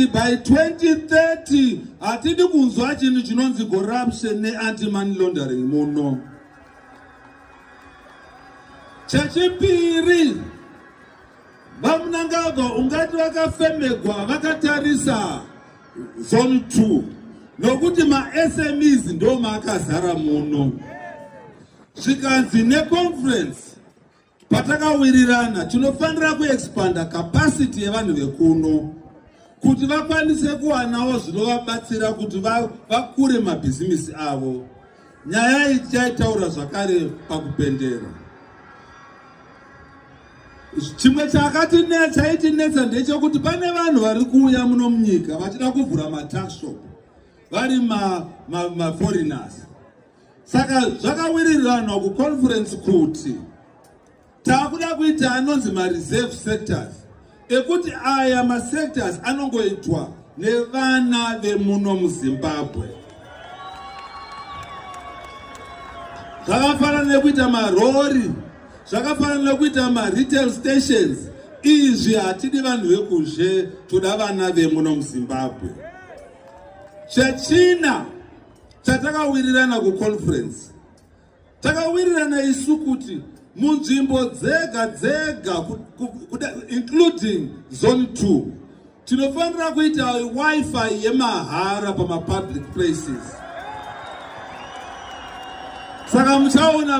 by 2030 hatidi kunzwa chinhu chinonzi corruption neantimoney laundering muno chechipiri vamunangagwa ungati vakafemegwa vakatarisa zone 2 nokuti masmes ndo maakazara muno zvikanzi neconference Patakawirirana tinofanira kuexpanda capacity yevanhu vekuno kuti vakwanise kuwanawo zvinovabatsira kuti vakure va mabhizimisi avo. Nyaya iyi tichaitaura zvakare pakupendera. Chimwe chakatinetsa chaitinetsa ndechokuti pane vanhu vari kuuya muno munyika vachida kuvhura mataxshop vari maforeigners ma, ma saka zvakawiriranwa kuconference kuti takuda kuita anonzi mareserve sectors ekuti aya masectors anongoitwa nevana vemuno muzimbabwe zvakafanana nekuita marori zvakafanana nekuita maretail stations izvi hatidi vanhu vekuzhe toda vana vemuno muzimbabwe chechina Chatakawirirana kuconference, takawirirana isu kuti munzvimbo dzega dzega including zone 2 tinofanira kuita wifi yemahara pamapublic places saka muchaona